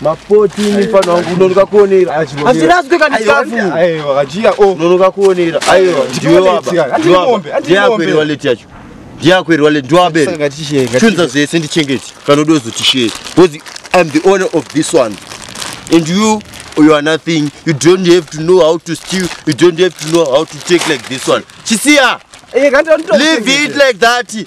mapoti mufana wangu unonoka kuonera hazviraswe kana chikafu unonoka kuonera aiwa ndiwe baba ndiakweri waleti yacho ndiakweri waleti ndiwabere chunza zvese ndichengeti kana udozotishee because iam the owner of this one and you you are nothing you don't have to know how to steal you don't have to know how to take like this one chisiya eh, leave it like that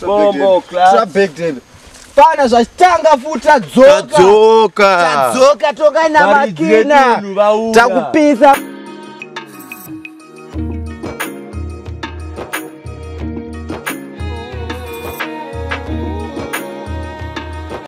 Bombo class. Trap back then. Pana zvachitanga futi tadzoka. Tadzoka. Tadzoka toka na makina. Takupisa.